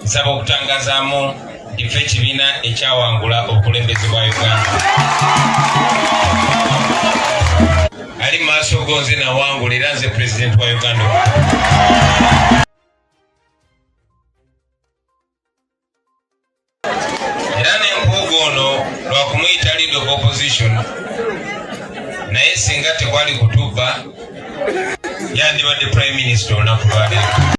nsaba okutangazaamu nti fe ekibiina ekyawangula obukulembeze bwa uganda ali mu maaso go nze nawangula era nze pulezidenti wa uganda era nempuuga ono lwakumuyita lead of opposition naye singa tekwali kutubba yandibadde prime minister olunaku lwaleero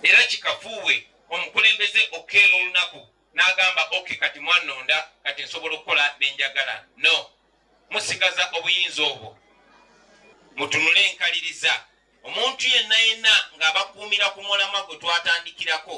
era kikafuuwe omukulembeze okukeera olunaku n'agamba ok kati mwanonda kati nsobola okukola nenjagala no musigaza obuyinza obwo mutunule enkaliriza omuntu yenna yenna ng'abakuumira ku mulamwa gwe twatandikirako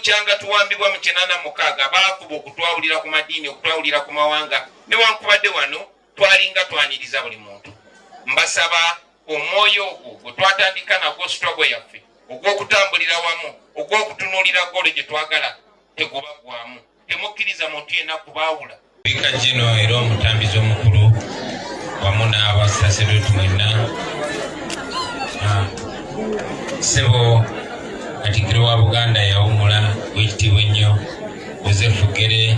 bukyanga tuwambibwa mu kinana mukaaga baakuba okutwawulira ku madiini okutwawulira ku mawanga newankubadde wano twalinga twaniriza buli muntu mbasaba omwoyo ogwo gwe twatandika nagwo sitogo yaffe ogw'okutambulira wamu ogw'okutunuulira golo gye twagala tegubaggwamu temukkiriza muntu yenna kubaawula bika gino era omutambizi omukulu wamu n'abasasedooti mwenna ah, sebo katikiro wa buganda yawumula wekitiibwa ennyo yosefu gere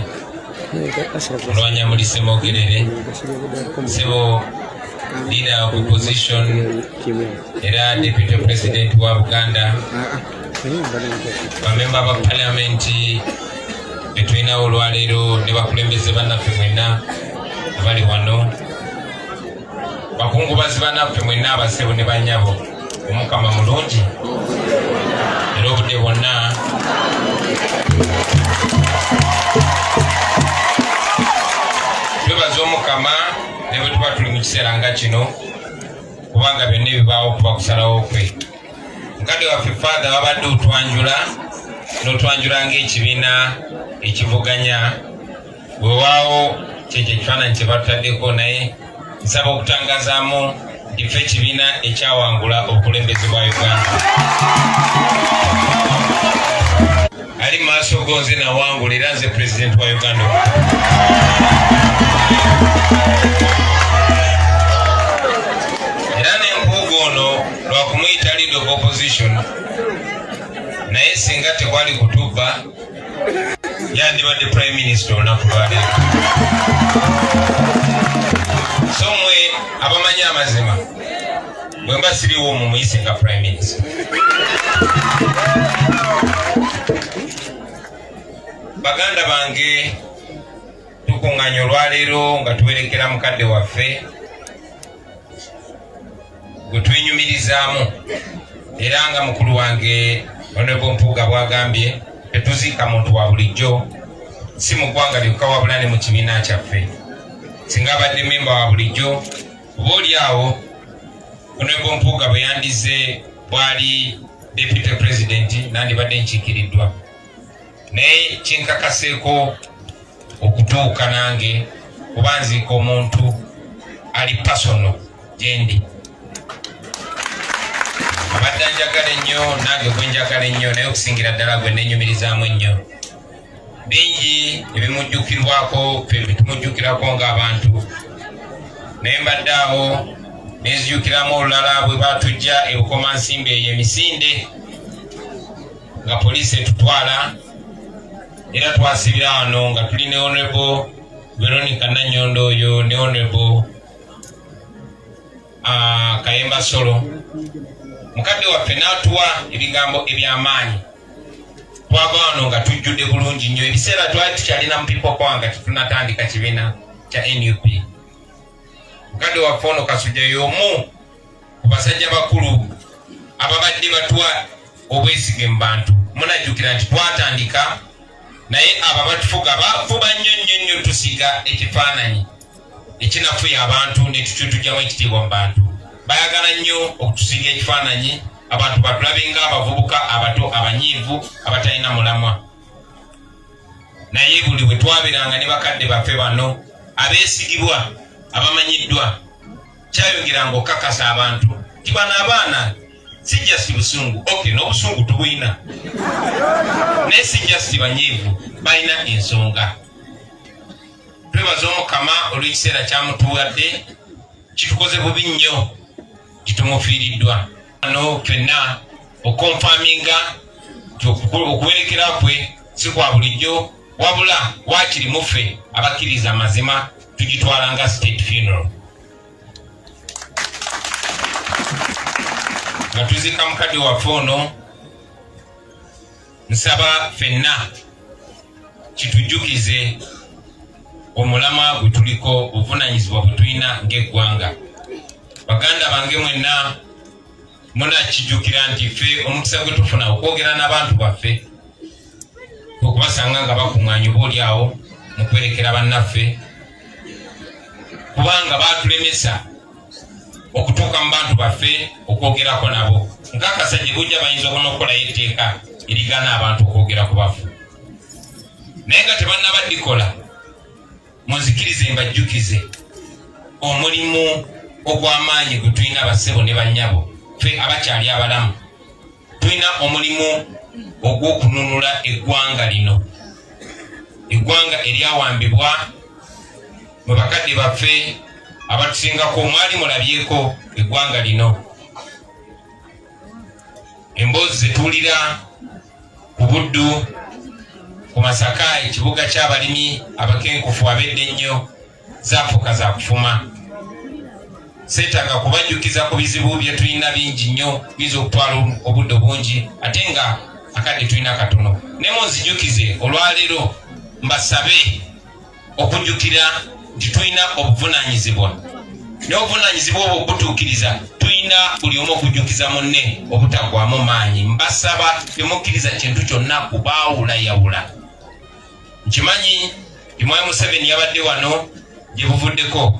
olwanyamulisemogerere sebo leader of opposition era deputy president wa buganda bamemba ba paliamenti betulinawo olwaleero ne bakulembeze bannaffe mwenna abali wano bakungubazi bannaffe mwenna abasebo ne banyabo omukama mulungi era obudde bwonna twebaza omukama ne bwe tuba tuli mu kiseera nga kino kubanga byonna ebibaawo kuba kusalawo kwe mukadde waffe faatha wabadde otwanjula n'otwanjula ng'ekibiina ekivuganya wewaawo kyekyo ekifaananyi kye batutaddeko naye nsaba okutangazaamu ndife ekibiina ekyawangula obukulembeze bwa uganda ali mu maaso go nze nawangula era nze pulezidenti wa uganda era nempuuga ono lwakumuyita lead of opposition naye singa tekwali kutubba yandibadde prime minister olunaku lwaleero so mwe abamanyi amazima bwemba siriwo mumuyise nga prime minister baganda bange tukunganya olwaleero nga tuwerekera mukadde waffe gwetwenyumirizaamu era nga mukulu wange onebo mpuuga bwagambye tetuziika muntu wa bulijjo si mu ggwanga lyokka wabula ne mu kibiina kyaffe singa abadde memba wa bulijjo kuba oli awo onebo mpuuga bwe yandize bwali deputy president nandibadde nkiikiriddwa naye kinkakaseeko okutuuka nange kuba nziika omuntu ali pasono gyendi abadde njagala ennyo nange gwe njagala ennyo naye okusingira ddala gwe nenyumirizaamu ennyo bingi ebimujjukirwako fe bitumujjukirako ng'abantu naye mbadde awo nezijukiramu olulala bwe batujja ebukoma nsimba eyo emisinde nga poliisi etutwala era twasibira wano nga tuli ne honorable veronica nanyondo oyo ne honorable ah, kayemba solo mukadde waffe n'atuwa ebigambo eby'amaanyi twava wano nga tujjudde bulungi nnyo ebiseera twali tukyalina mu pipo kwanga tetunatandika kibiina kya nup mukadde waffe ono kasuja yomu ku basajja bakulu ababadde batuwa obwesige mu bantu munajjukira nti twatandika naye abo abatufuga bafuba nnyo nnyo nnyo tusiga ekifaananyi ekinafuya abantu netukyotugyamu ekitiibwa mu bantu bayagala nnyo okutusinga ekifaananyi abantu batulabinga abavubuka abato abanyiivu abatalina mulamwa naye buli bwe twabiranga ne bakadde baffe bano abeesigibwa abamanyiddwa kyayongeranga okukakasa abantu nti bano abaana si just busungu ok n'obusungu tubulina naye si just banyiivu balina ensonga twebaza omukama olw'ekiseera kyamutuwadde kitukoze bubi nnyo kitumufiiriddwa ano fenna okonfaminga okuwerekera kwe si kwa bulijjo wabula wakiri muffe abakkiriza amazima tugitwala nga state funeral nga tuzika mukadde waffe ono nsaba fenna kitujjukize omulama gwe tuliko obuvunanyizibwa bwe tulina ng'eggwanga baganda bange mwenna munakijjukira nti ffe omukisa gwe tufuna okwogera n'abantu baffe okubasanga nga bakuŋŋanya oba oli awo mu kwerekera bannaffe kubanga baatulemesa okutuuka mu bantu baffe okwogerako nabo nkakasa gye bujja bayinza okona okukolayo etteeka erigana abantu okwogera ku bafu naye nga tebannaba dikola munzikirize mbajjukize omulimu ogw'amaanyi gwe tulina bassebo ne bannyabo fe abakyali abalamu tulina omulimu ogw'okununula eggwanga lino eggwanga eryawambibwa mu bakadde baffe abatusingako mwali mulabyeko eggwanga lino emboozi zetuwulira ku buddu ku masaka ekibuga ky'abalimi abakenkufu abedde ennyo zafuuka za kufuma seetaaga kubajjukiza ku bizibu bye tulina bingi nnyo biyinza okutwala obudde obungi ate nga akadde tulina katono ne munzijukize olwaleero mbasabe okujjukira nti tulina obuvunaanyizibwa n'obuvunaanyizibwa obwo butuukiriza tulina buli omu okujjukiza munne obutagwamu maanyi mbasaba temukkiriza kintu kyonna kubaawulayawula nkimanyi imwayi museveni yabadde wano gye buvuddeko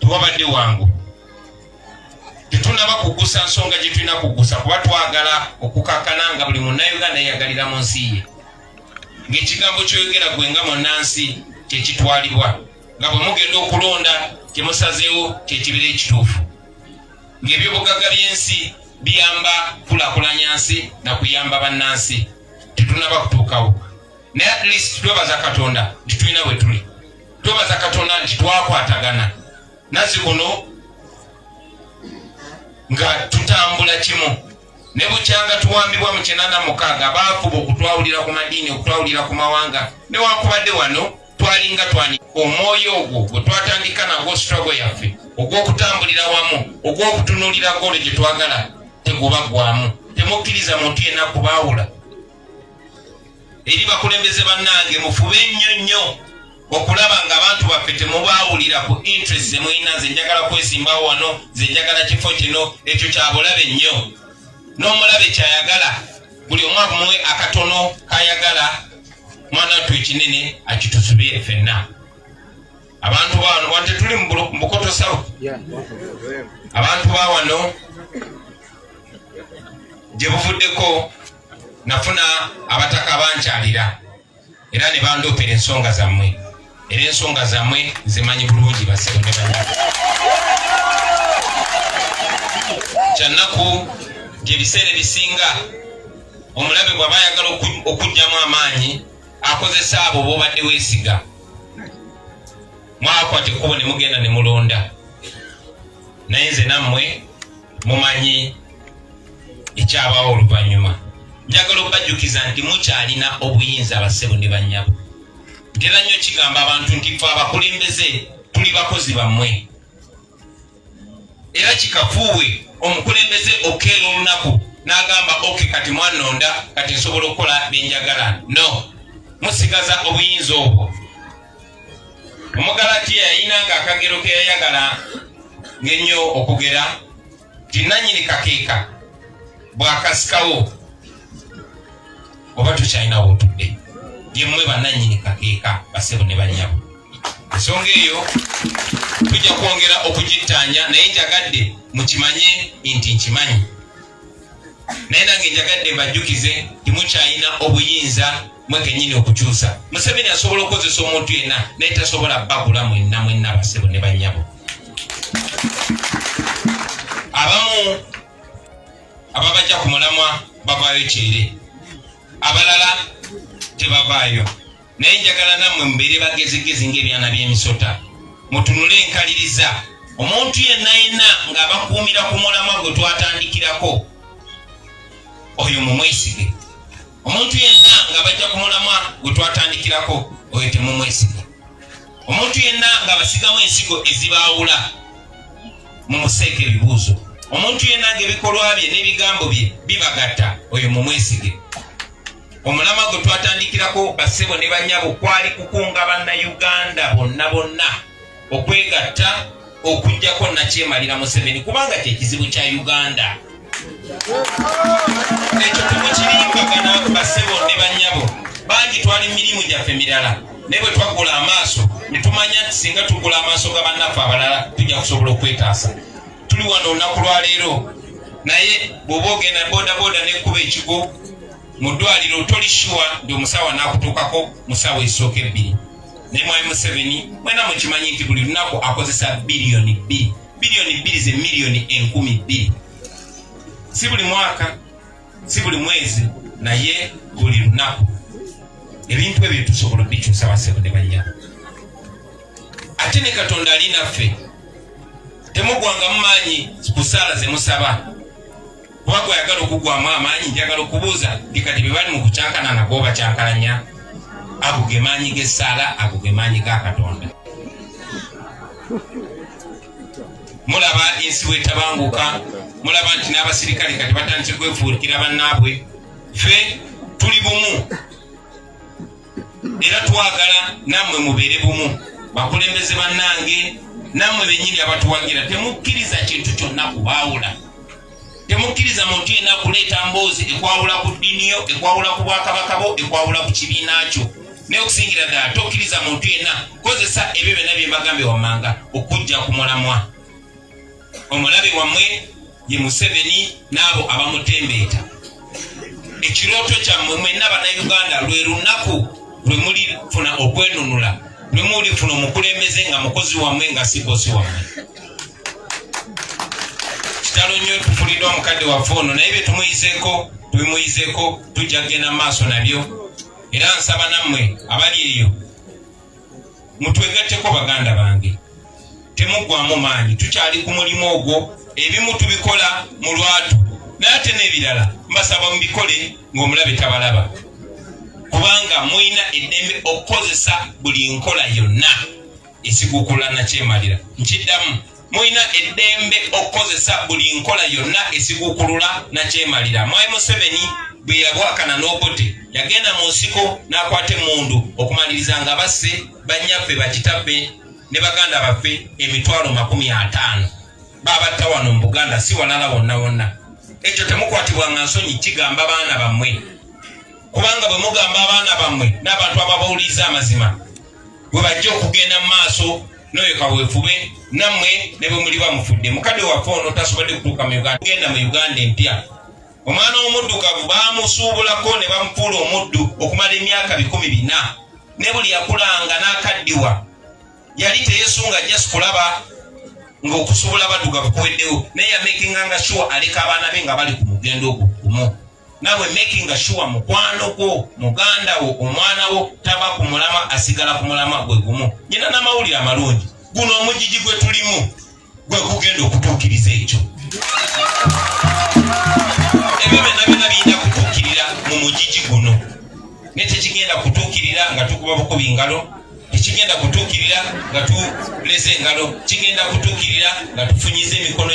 tewabadde wangu tetunaba kugusa nsonga gye tulina kugusa kuba twagala okukakana nga buli munnauganda yeyagalira mu nsi ye ng'ekigambo kyoyogera gwe nga munnansi kyekitwalibwa nga bwe mugenda okulonda kyemusazeewo kyekibeera ekituufu ng'ebyobugagga by'ensi biyamba kulakulanya nsi na kuyamba bannansi tetunaba kutuukawo naye at least twebaza katonda nti tulina bwe tuli twebaza katonda nti twakwatagana nazi kuno nga tutambula kimu ne bukyanga tuwambibwa mu kinana mukaaga baafuba okutwawulira ku madiini okutwawulira ku mawanga newankubadde wano twalinga twani omwoyo ogwo gwe twatandika nagwo struggle yaffe ogw'okutambulira wamu ogw'okutunuulira golo gye twagala tegubaggwamu temukkiriza muntu yenna kubaawula eri bakulembeze bannange mufube nnyo nnyo okulaba nga abantu baffe temubaawulira ku interest zemulina nze njagala kwesimbawo wano nze njagala kifo kino ekyo kyabulabe nnyo n'omulabe kyayagala buli omu amuwe akatono kayagala mwana wattu ekinene akitusubire fenna abantu bawano wano tetuli mubukoto sawu abantu bawano gye buvuddeko nafuna abataka bankyalira era ne bandoopera ensonga zammwe era ensonga zammwe nzimanyi bulungi basebo ne bana kyannaku nti ebiseera ebisinga omulabe bwaba ayagala okugyamu amaanyi akozesa abo bobadde wesiga mwakwata ekkubo ne mugenda ne mulonda naye nze nammwe mumanyi ekyabaawo oluvannyuma njagala okubajjukiza nti mukyalina obuyinza abassebo ne bannyabo ntera nnyo kigamba abantu nti fe abakulembeze tuli bakozi bammwe era kikafuuwe omukulembeze okeera olunaku n'agamba oke kati mwanonda kati nsobola okukola byenjagala no musigaza obuyinza obwo omugalatiya yayina nga akagero ke yayagala ng'ennyo okugera nti nanyini kakeeka bwakasikawo oba tukyalinawo otudde yemmwe bananyini kakeeka basebo ne banyabo ensonga eyo tujja kwongera okugittaanya naye njagadde mukimanye nti nkimanyi naye nange njagadde mbajjukize timukyalina obuyinza mwe kenyini okukyusa museveni asobola okukozesa omuntu yenna naye tasobola bagula mwenna mwenna basebo ne banyabo abamu ababajja ku mulamwa bavaayo kyere abalala tebavaayo naye njagala nammwe mubeere bagezigezi ng'ebyana by'emisota mutunule enkaliriza omuntu yenna yenna ng'abakuumira ku mulamwa gwe twatandikirako oyo mumwesige omuntu yenna nga bajja ku mulamwa gwe twatandikirako oyo temumwesige omuntu yenna nga basigamu ensigo ezibaawula mumuseeka ebibuuzo omuntu yenna nga ebikolwa bye n'ebigambo bye bibagatta oyo mumwesige omulamwa gwe twatandikirako bassebo ne banyabo kwali kukunga bannayuganda bonna bonna okwegatta okujjako nakyemalira museveni kubanga kyekizibu kya uganda ekyo temukirimbagana bassebo ne banyabo bangi twali mirimu gyaffe mirala naye bwe twagula amaaso ne tumanya nti singa tugula amaaso ga bannaffe abalala tujja kusobola okwetaasa tuli wano olunaku lwaleero naye bwoba ogenda bodaboda nekuba ekigo mu ddwaliro toli shuwa nti omusawo anakutuukako mu saawa ezisooka ebbiri naye mwami museveni mwena mukimanyi nti buli lunaku akozesa biliyoni bbiri biliyoni bbiri ze miliyoni enkumi bbiri si buli mwaka si buli mwezi naye buli lunaku ebintu ebyo tusobola obikyusa basebo ne banya ate ne katonda ali naffe temugwanga mumaanyi kusaala zemusaba kuba gweyagala okugwamu amaanyi njagala okubuuza ndi kati bebali mu kucankana nago bacankalanya ago ge maanyi g'essaala ago ge maanyi ga katonda mulaba ensi bwetabanguka mulaba nti n'abasirikale kati batandise kwefuukira bannaabwe fe tuli bumu era twagala nammwe mubeere bumu bakulembeze bannange nammwe bennyini abatuwagira temukkiriza kintu kyonna kubaawula temukkiriza muntu yenna kuleeta mboozi ekwawula ku ddiini yo ekwawula ku bwakabaka bo ekwawula ku kibiina kyo naye okusingira ddala tokkiriza muntu yenna kozesa ebyo byonna bye mbagambye wammanga okujja ku mulamwa omulabe wammwe ye museveni n'abo abamutembeeta ekirooto kyammwe mwenna bannayuganda lwe lunaku lwe mulifuna okwenunula lwe mulifuna omukulembeze nga mukozi wammwe nga si bosi wammwe kitalo nnyo tufuliddwa mukadde waffe ono naye bye tumuyizeko tubimuyizeko tujja kugenda mu maaso nabyo era nsaba nammwe abali eyo mutwegatteko baganda bange temuggwamu maanyi tukyali ku mulimu ogwo ebimu tubikola mu lwatu naye ate n'ebirala mbasaba mubikole ng'omulabe tabalaba kubanga mulina eddembe okukozesa buli nkola yonna ekikukula nakyemalira nkiddamu mulina eddembe okukozesa buli nkola yonna esikukulula nakyemalira mwai museveni bwe yabwakana n'obote yagenda mu nsiko n'akwata emmundu okumaliriza nga basse bannyaffe bakitabbe ne baganda baffe emitwalo makumi ataano babatta wano mu buganda si walala wonna wonna ekyo temukwatibwa nga nsonyi kigamba baana bammwe kubanga bwe mugamba abaana bammwe n'abantu ababawuliriza amazima bwe bajja okugenda mu maaso n'oyo kaweefube nammwe ne bwe muli bamufudde mukadde waffe ono tasobodde kutuuka mu uganda kugenda mu uganda empya omwana omuddugavu baamusuubulako ne bamufuula omuddu okumala emyaka bikumi bina ne buli yakulanga n'akaddiwa yali teyesunga just kulaba ng'okusuubula abaddugavu kuweddewo naye yamakinga nga sure aleka abaana be nga bali ku mugendo ogwo gumu nawe making sure mukwano gwo muganda wo omwana wo taba ku mulama asigala ku mulama gwe gumu nyina n'amawulire amalungi guno omugigi gwe tulimu gwe gugenda okutuukiriza ekyo ebyo byonna byonna biyina kutuukirira mu mugigi guno naye tekigenda kutuukirira nga tukuba bukubi ngalo tekigenda kutuukirira nga tuleze engalo kigenda kutuukirira nga tufunyiza emikono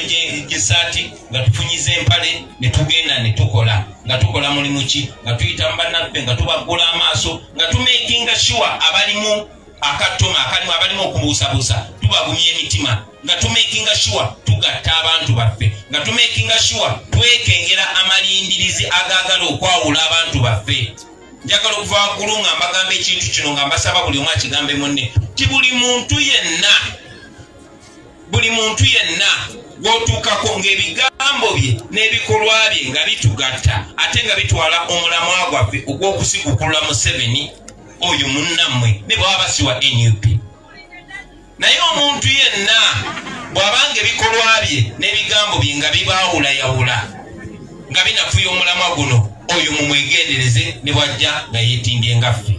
gy'esaati nga tufunyiza empale ne tugenda ne tukola nga tukola mulimu ki nga tuyita mu bannaffe nga tubaggula amaaso nga tumekinga shuwa abalimu akattoma akalimu abalimu okubuusabuusa tubagumya emitima nga tumekinga shuwa tugatta abantu baffe nga tumekinga shuwa twekengera amalindirizi agaagala okwawula abantu baffe njagala okuva waggulu nga mbagamba ekintu kino nga mbasaba buli omu akigambe munne ti buli muntu yenna buli muntu yenna gwotuukako ng'ebigambo bye n'ebikolwa bye nga bitugatta ate nga bitwala omulamwa gwaffe ogw'okusigukulula museveni oyo munnammwe ne bwaba basiwa nup Naye omuntu yenna bw'abanga ebikolwa bye n'ebigambo bye nga bibaawulayawula nga binafuya omulamwa guno oyo mumwegendereze ne bwajja nga yeetimbye nga ffe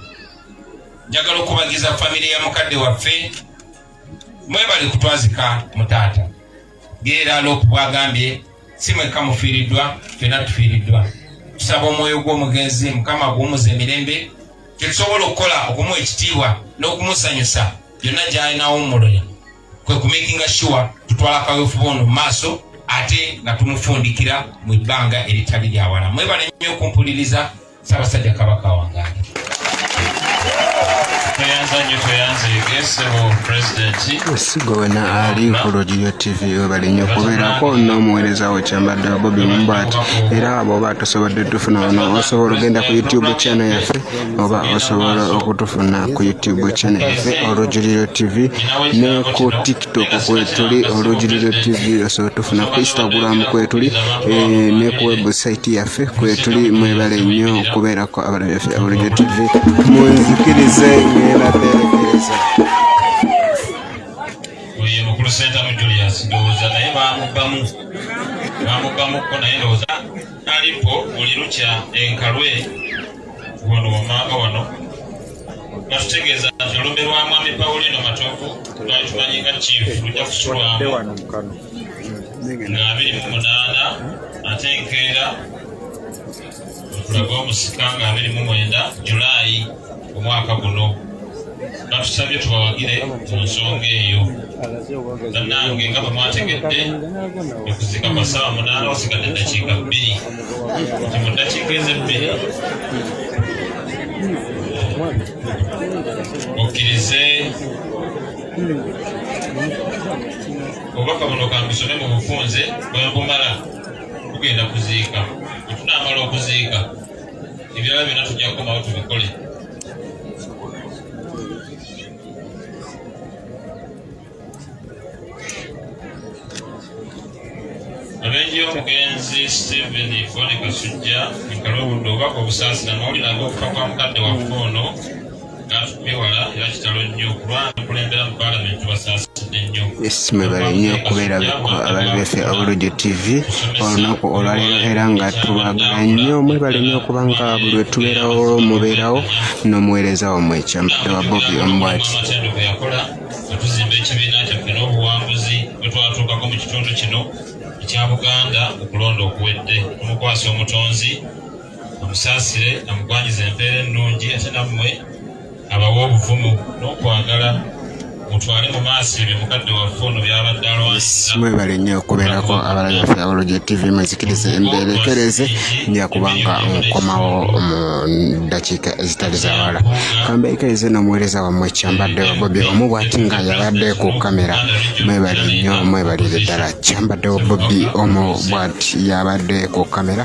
njagala okubagiza famire ya mukadde waffe mwebali kutwazika mu taata geera loopu bwagambye si mwekka mufiiriddwa fena tufiiriddwa tusaba omwoyo gw'omugenzi mukama guwumuza emirembe kyetusobola okukola okumuwa ekitiibwa n'okumusanyusa byonna gyalinawummulira kwe kumakinga sure tutwala kawefuba ono mu maaso ate nga tumufundikira mu bbanga eritali lyawala mwebale nnyo okumpuliriza sabasajja kabaka wangaali esigo wena ali ku lodiyo tv webalinyo okubeerako n'omuweereza wo kyambadde bobi mumbati era abo osobodde tufuna wano osobola ogenda ku youtube channel yaffe oba osobola okutufuna ku youtube channel yaffe olujuliro tv ne ku tiktok kwetuli olujuliro tv osobola tufuna ku instagram kwetuli eh, ne ku website yaffe kwetuli mwebale nnyo okubeerako abalabi baffe olujuliro tv munzikirize ngenda terekereza oyo mukulu sentamu julius ndowooza naye bamubbamu namugamuko naye ndowooza alipo buli lukya enkalwe wano wamaama wano batutegeeza nti olumbe lwa mwami paulino matovu twali tumanyi nga kiifu lujja kusulwamu nga abiri mu munaana ate enkeera lw'omusika nga abiri mu mwenda julaayi omwaka guno batusabye tubawagire mu nsonga eyo bannange nga bwe mwategedde okuzika kwa ssaawa munaana wasigadde eddakiika bbiri nti mu ddakiika ezebbiri okkirize obubaka buno kambisome mu bufunze bwembumala tugenda kuziika bwetunamala okuziika ebirala byona tujja kukomawo tubikole abenji omugenzi stephen fone kasujja enkala obudde obubaka obusaasira mawulire ag'okufa kwa mukadde waffe ono mwebale nnyo okubeera ababi baffe abulujo tv olunaku olwaleero era nga tubagala nnyo mwebale nnyo okuba nga buli wetubeerawo mubeerawo n'omuweereza wamwe ekyampadde wa bobi omubwati tuzimba ekibiina kyaffe n'obuwanguzi bwe twatuukako mu kitundu kino ekya buganda okulonda okuwedde omukwasa omutonzi amusaasire amugwanyize empeera ennungi ate nammwe abawa obuvumu n'okwagala mutwale mu maaso ebyo mukadde waffe ono byabadde alwansimwebale nnyo okubeerako abalabi baffe abaloja tv muzikirize embeera ekereeze nja kubanga nkomawo mu ddakiika ezitali zawala kamba ekereeze n'omuweereza wammwe kyambadde wa bobi omu bwati nga yabadde ku kamera mwebale nnyo mwebalire ddala kyambadde wa bobi omu bwati yabadde ku kamera